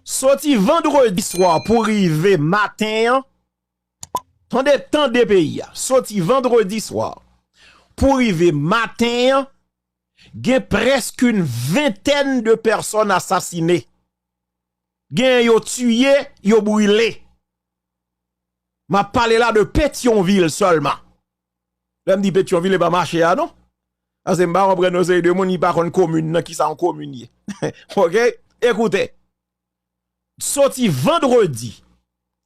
Soti vandredi swa pou rive maten an, tande tande peyi a, soti vandredi swa pou rive maten an, gen prèsk yn ventèn de pèsòn asasine, gen yo tiye, yo brile. Map pale la de Petyonvil sèlman. Lèm di petyon vil epa mache a non Pase mpa konprann yon seri de moun ki pa konn komin nan kisa yon komin ye ok ekoute soti vandredi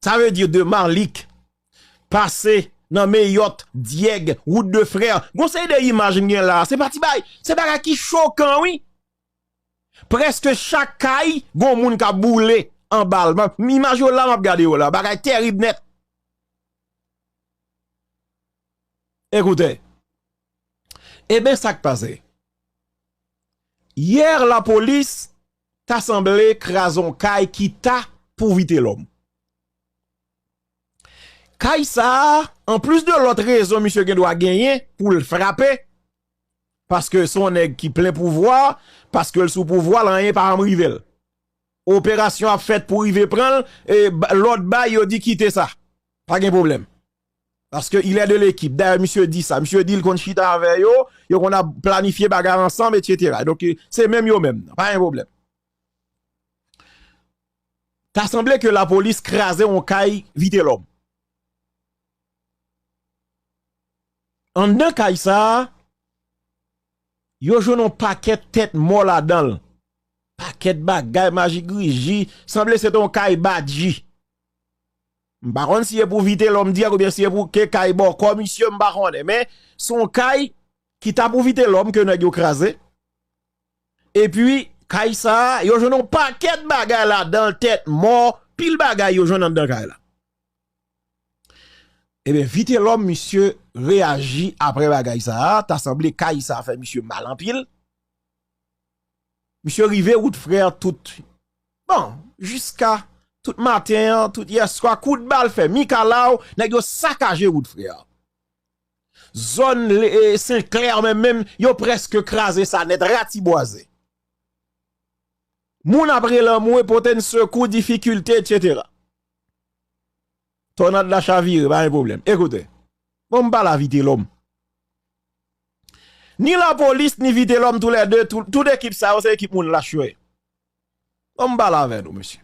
sa vle di de marlik pase nan meyòt dyèg wout de frè yon seri de imaj mgen la se pa ti bagay se bagay ki chokan wi prèske chak kay gon moun kap boule anbal imaj yo la map gade yo la bagay terib nèt. Ekoute, eben sak pase? Hier la police ta sanble kraze yon kay ki ta pou Vitelhomme. Kay sa a, an plis de lòt rezon misye gen dwa genyen pou l frape, paske se yon nèg ki plen pouvwa, paske l sou pouvwa l anyen pa janm rive l. Operasyon ap fèt pou rive pran l e lòd bay yo di kite sa. Pa gen pwoblèm. Paske il est de l'équipe. Dayè misye di sa. Misye di l konn chita avè yo, yo konn ap planifye bagay ansanm etc. Donk se menm yo menm nan. Pa gen pwoblèm. Ta sanble ke lapolis kraze yon kay Vitelòm. Anndan kay sa a. Yo jwenn yon pakèt tèt mò ladan l. Pakèt bagay majigriji. Sanble se te yon kay badji. M pa konn si e pou Vitelòm di ak oubyen si e pou ke kay bòkò misye m pa konnen. Men, se yon kay ki ta pou Vitelòm ke nèg yo kraze. E pi, kay sa a, yo jwenn yon pakèt bagay ladan l, tèt mò, pil bagay yo jwenn anndan kay la. Ebyen vitelòm misye reyaji aprè bagay sa a, ta sanble kay sa fè misye mal anpil, misye rive wout frè tout, bon jiska tout maten an, tout yèswa, kout bal fè mikalaw, nèg yo sakaje wout frè. Zòn senklè an menm menm, yo prèske kraze sa nèt, ratibwaze. Moun ap rele anmwe pote n sekou, difikilte etc. Tònad la chavire, pa gen pwoblèm. Ekoute, bon m pale a Vitelòm. Ni lapolis, ni Vitelòm tou lè de, tout ekip sa yo se ekip moun lach yo ye. Bon m pale avè nou mesye.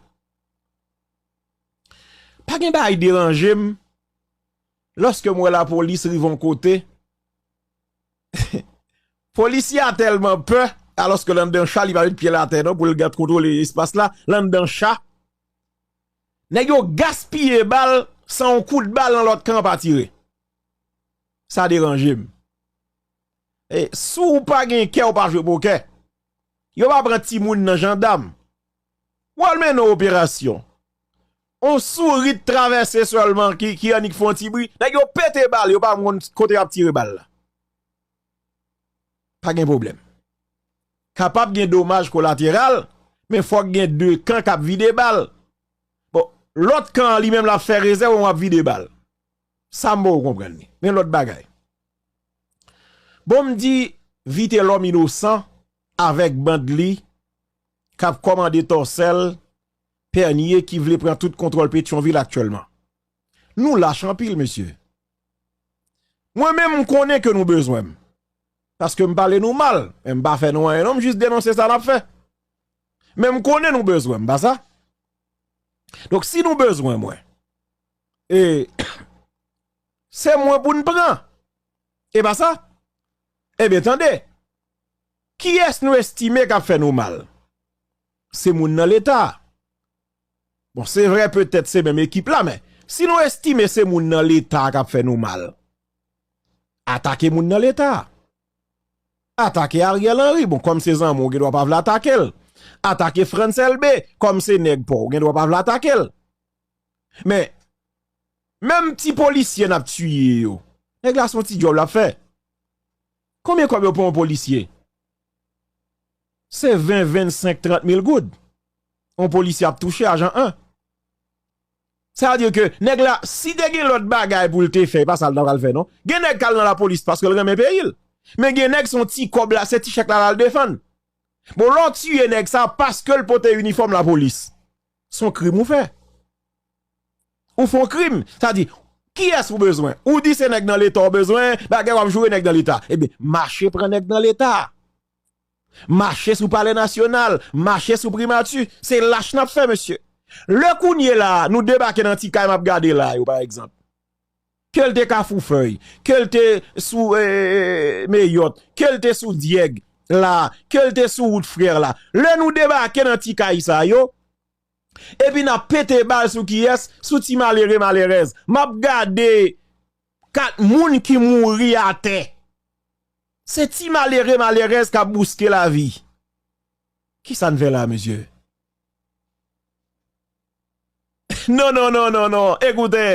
Pa gen bagay deranje m, lòske m wè lapolis rive yon kote, polisye a tèlman pè, alòske l anndan cha li pa met pye l atè non pou l gen kontwole espas la, l anndan cha, Nèg yo gaspiye bal san yon kout bal nan lòt kan pa tire. Sa deranje m. E si w pa gen kè w pa jwe pokè. Yo pa pran timoun nan jandam. W al mennen yon operasyon. Yon souri t travèse sèlman ki annik fè yon ti bri. Nèg yo pete bal yo pa konn kote y ap tire bal la. pa gen pwoblèm. Kapab gen domaj kolateral, men fòk gen 2 kan k ap vide bal. Bon, lòt kan an li menm l ap fè rezèv ou ap vide bal. Sa m poko konprann li. Men lòt bagay. Bon m di Vitelòm inosan avèk band li k ap kòmande tòsèl, Pènye ki vle pran tout kontwòl Petyonvil aktyèlman. Nou lach anpil mesye. Mwen menm m konnen ke nou bezwen m. Paske m pale nou mal. Men m pa fè nou anyen non m jis denonse sa n ap fè. Men m konnen nou bezwen m pa sa. Donk si nou bezwen mwen. E se mwen pou n pran. E pa sa. E ben tande. Kiyès nou estime k ap fè nou mal. Se moun nan leta. Bon se vre petèt se menm ekip la men si nou estime se moun nan leta kap fè nou mal atake moun nan leta atake Ariel Henry bon kòm se zanmi w gen dwa pa vle atake l atake Frantz Elbe kòm se nèg pa w gen dwa pa vle atake l men menm ti polisye nap tiye yo nèg la son ti dyòl lap fè konbyen kòb yo pou yon polisye Se 20, 25, 30 mil goud yon polisye ap touche ajan 1. Sa vle di ke nèg la si te gen lòt bagay pou l te fè, e pa sa l ta pral fè non. Gen nèg k al nan lapolis paske l renmen peyi l. Men gen nèg se yon ti kòb la, se ti chèk la l al defann. Bon lè w tiye nèg sa paske l pote inifòm lapolis, se yon krim ou fè. Ou fon krim, sa di, kiyès ou bezwen? Ou di se nèg nan leta ou bezwen, bagay wap joure nèg nan leta. Ebyen, mache pran nèg nan leta. Mache sou palè nasyonal, mache sou primati. Se lach nap fè mesye. Lè kounye la, nou debake nan ti kay map gade la yo pa egzanp. Kel te kafou fèy, kel te sou meyòt, kel te sou dyèg la, kel te sou wout frè la. Lè nou debake nan ti kay sa yo. epi nap pete bal sou kiyès sou ti malere malerèz map gade kat moun ki mouri atè se ti malere malerèz kap bouske lavi kisa n fè la mesye non non non non non ekoute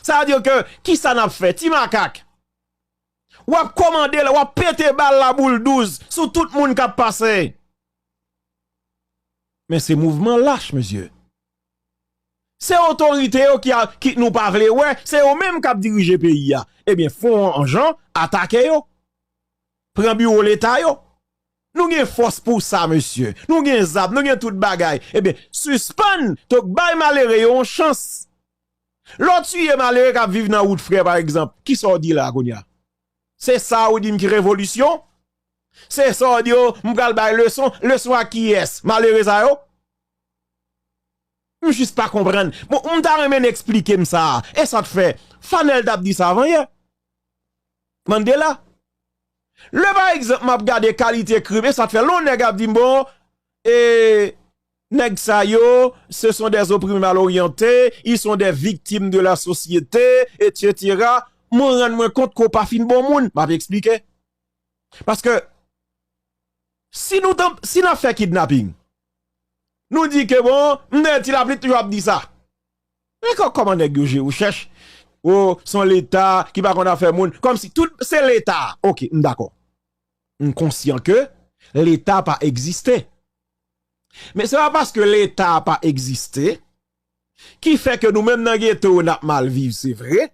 sa vle di ke kisa nap fè ti makak wap komande la wap pete bal la boul douz sou tout moun kap pase. Men se mouvman lach mesye. Se otorite yo ki nou pa vle wè, se yo menm kap dirije peyi a. Ebyen fon an jan, atake yo. Pran biwo leta yo. Nou gen fòs pou sa mesye. Nou gen zam, nou gen tout bagay. Ebyen sispann tok bay malere yo yon chans. Lè w tiye malere kap viv nan wout frè pa egzanp, kisa w di la kounya? Se sa ou di m ki revolisyon? Se sa w di yo, m pral bay leson, leson a kiyès? Malere sa yo? M jis pa konprann. Bon, m ta renmen n esplike m sa a. E sa k fè? Fanel t ap di sa avan yè. Mandela. Lè pa egzanp m ap gade kalite krim, e sa k fè lè yon nèg ap di m bon, e nèg sa yo, se son dè zoprime mal oryante, i son dè viktim de la sosyete, etsetera, mwen rann mwen kont ke w pa fin bon moun. M ap esplike. Paske si nou tanm si nap fè kidnapping nou di ke bon mnde ti lapli toujou ap di sa men kò kòman nèg yo je yo chèch o son leta ki pa konn afè moun kòm si tout se leta ok m dakò m konsyan ke leta pa egziste men se pa paske leta pa egziste ki fè ke nou menm nan geto yo nap mal viv se vre,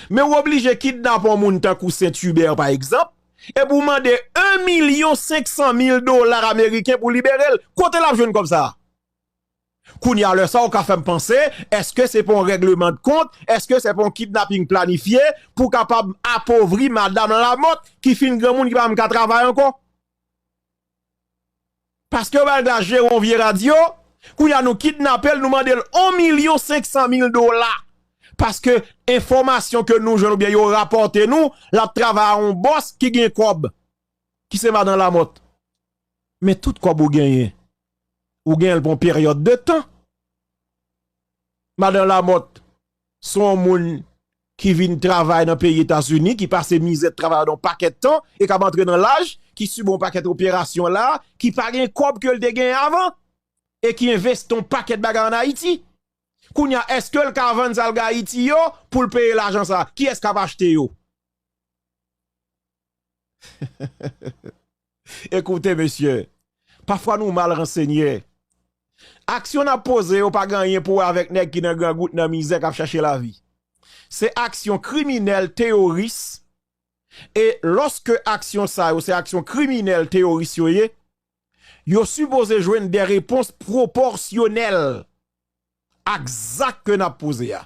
men ou oblije kidnap yon moun tankou Saint Hubert pa egzanp, epi ou mande 1 milyon 500 mil dola ameriken pou libere l, kote lap jwenn kòb sa a? Kounye a lè sa ou ka fèm panse, eske se pa yon règleman de kont, eske se pa yon kidnaping planifye pou kapab apovri madam Lamothe ki fin granmoun ki pa menm ka travay ankò? Paskew bal glas jeron vye radio kounya nou kidnapel nou mandel 1 milyon 500 mil dola paske enfomasyon ke nou jwenn oubyen yo rapòte nou lap travay a yon bòs ki gen kòb ki se madan lamòt men tout kòb ou genyen ou genyenl pou yon peryòd de tan madan lamòt. Son w moun ki vin travay nan peyi Etazini, ki pase mizè travay yon pakèt tan e k ap antre nan laj, ki sibi yon pakèt operasyon la, ki pa gen kòb ke l te genyen avan e ki envesti yon pakèt bagay an Ayiti. Kounye a, èske l ka vann sa l gen Ayiti yo pou l peye lajan sa a? Kiyès k ap achte yo? Ekoute mesye, pafwa nou mal ransenye. Aksyon n ap poze yo pa gen anyen pou wè avèk nèg ki nan grangout, nan mizè, k ap chache lavi. Se aksyon kriminèl teyoris e lòske aksyon sa yo se aksyon kriminèl teyoris yo ye, yo sipoze jwenn de repons pwopòsyonèl ak zak ke n ap poze a.